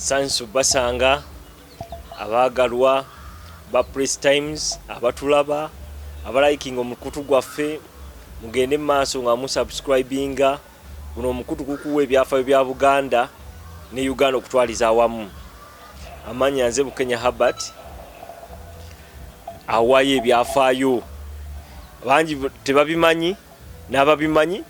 sansu basanga abaagalwa ba press times abatulaba abalikinga omukutu gwaffe mugende mu maaso nga musubscribinga Guno omukutu gukuwa ebyafayo bya Buganda ne Uganda okutwaliza awamu. Amanya nze Bukenya Herbert awayo ebyafayo bangi tebabimanyi n'ababimanyi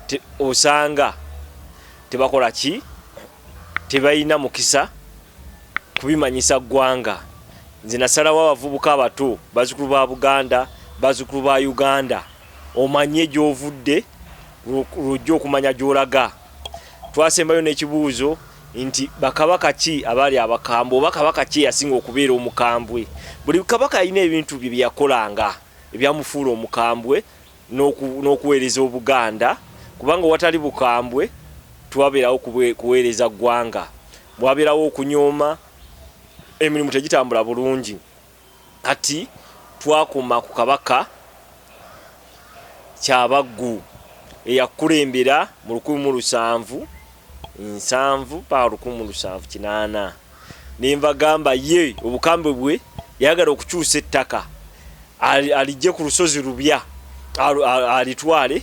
te, osanga tebakola ki tebalina mukisa kubimanyisa ggwanga nze nasalawo abavubuka abato bazukulu ba buganda bazukulu ba uganda omanye gyovudde lw'ojja okumanya gy'olaga. Twasembayo n'ekibuuzo nti bakabaka ki abaali abakambwe oba kabaka ki eyasinga okubeera omukambwe? Buli kabaka yalina ebintu bye bye yakolanga ebyamufuula omukambwe n'okuweereza Obuganda kubanga watali bukambwe tewabeerawo kuweereza ggwanga, wabeerawo okunyooma, emirimu tegitambula bulungi. Kati twakoma ku Kabaka Kyabaggu eyakulembera mu lukumi mu lusanvu nsanvu mpaka lukumi mu lusanvu kinaana. Ne mbagamba ye obukambwe bwe yayagala okukyusa ettaka aliggye ku lusozi Lubya alitwale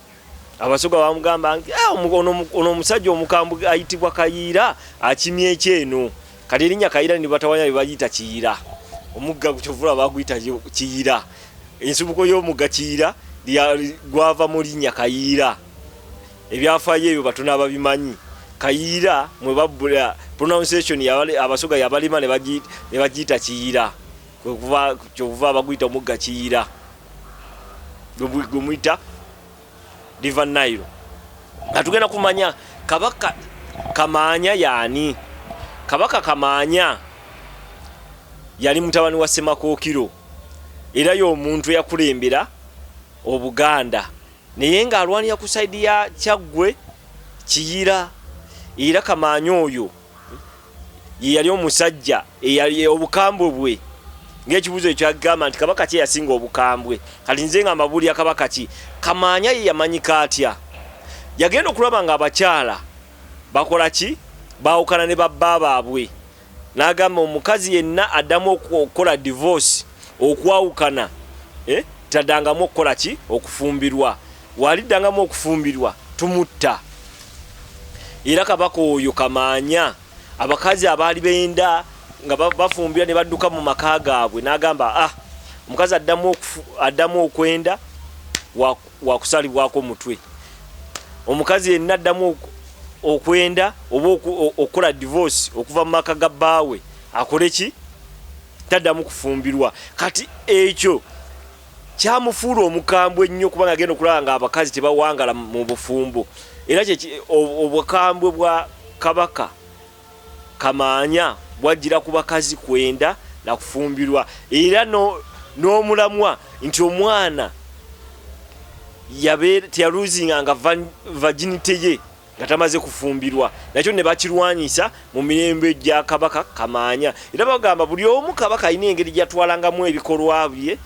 Abasoga bamugamba nti eh, ono omusajja omukambwe ayitibwa Kayiira akimye ekyeno kati erinnya Kayiira ne batawanya be bagiyita Kiyira omugga kyovula baguyita Kiyira ensibuko y'omugga Kiyira gwava mu linnya Kayiira ebyafaayo ebyo batono ababimanyi Kayiira mwe babbula pronunciation abasoga yabalima ne bagiyita Kiyira kyokuva abaguyita omugga kiyira gwemuyita river nile nga tugenda kumanya kabaka kamaanya yaani kabaka kamaanya yali mutabani wa semakookiro era y'omuntu eyakulembera obuganda naye ng'alwanira ku saidi ya kyaggwe kiyira era kamaanya oyo ye yali omusajja obukambwe bwe ngaekibuzo ekyagamba nti kabaka ki yasinga obukambwe kati nze nga mbabuulira kabaka ki kamaanya ye yamanyika atya yagenda okulaba nga abakyala bakola ki baawukana ne babba baabwe n'agamba omukazi yenna addamu okukola divorce okwawukana eh, tadangamu okukola ki okufumbirwa Waliddangamu okufumbirwa tumutta. Era kabaka oyo kamaanya abakazi abaali benda nga bafumbira ne badduka mu maka gaabwe n'agamba ah omukazi addamu okwenda wakusalibwako omutwe omukazi yenna addamu okwenda oba okukola divorce okuva mu maka ga bbaawe akole ki taddamu kufumbirwa kati ekyo kyamufuula omukambwe ennyo kuba nga agenda okulaba nga abakazi tebawangala mu bufumbo era obukambwe bwa kabaka kamaanya bwajjira ku bakazi kwenda nakufumbirwa era n'omulamwa nti omwana yaluzinga nga vaginite ye nga tamaze kufumbirwa nakyo ne bakirwanyisa mu mirembe gya kabaka kamaanya era bagamba buli omu kabaka alina engeri gyatwalangamu ebikolwa bye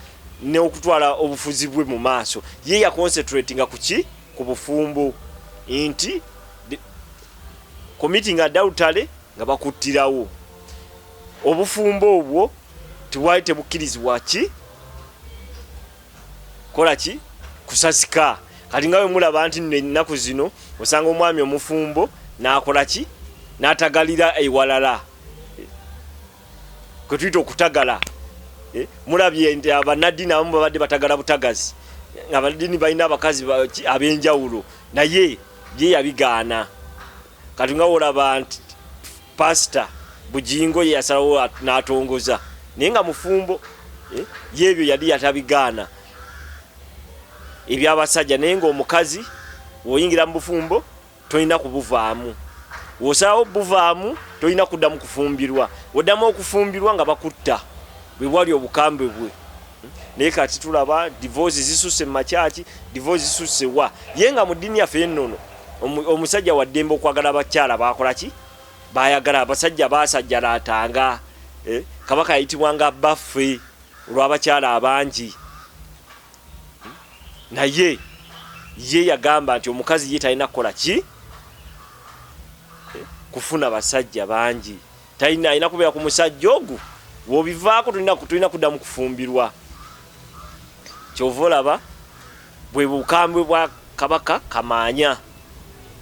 n'okutwala obufuzi bwe mu maaso ye yaconcentrate nga kuki ku bufumbo nti committing adultery nga bakuttirawo obufumbo obwo tebwali tebukkirizibwa ki kola ki kusasika kati nga wemulaba nti no ennaku zino osanga omwami omufumbo nakola ki natagalira ewalala kwetuyita okutagala eh, mulabye nti abanaddiini abamu babadde batagala butagazi abanaddiini balina abakazi abenjawulo naye ye yabigaana Kati nga wolaba nti pastor Bujingo ye yasalawo n'atongoza naye nga mufumbo eh, y'ebyo yali yatabigaana eby'abasajja naye ng'omukazi woyingira mu bufumbo tolina kubuvaamu wosalawo buvaamu tolina kuddamu kufumbirwa woddamu okufumbirwa nga bakutta bwe bwali obukambwe bwe naye kati tulaba divorce zisusse mu makyaki divorce zisusse wa ye nga mu ddiini yaffe ennono Omusajja wa ddembe okwagala abakyala baakolaki baayagala abasajja baasajjalaatanga eh, kabaka yayitibwanga baffe olw'abakyala abangi hmm? naye ye yagamba nti omukazi ye talina kukola ki eh, kufuna basajja bangi Talina alina kubeera ku musajja ogwo wobivaako tulina kuddamu kufumbirwa kyova olaba bwe bukambwe bwa kabaka kamaanya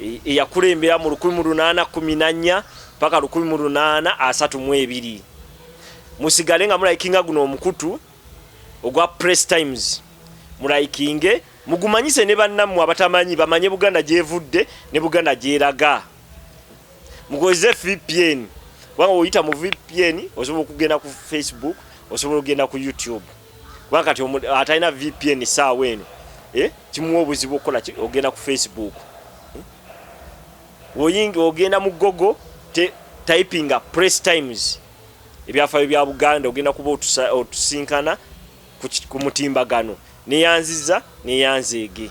e, eyakulembera mu 1814 paka 1832 musigale nga mulayikinga guno omukutu ogwa press times mulayikinge mugumanyise ne bannammwe abatamanyi bamanye buganda gyevudde ne buganda gyeraga mukozese vpn kubanga oyita mu vpn osobola okugenda ku facebook osobola okugenda ku youtube kubanga kati atalina vpn saawa eno eh, kimuwa obuzibu okukola ogenda ku facebook eh? oyinga ogenda mu gogo typinga press times ebyafayo bya buganda ogenda kuba otusinkana ku mutimbagano neyanziza neyanzeege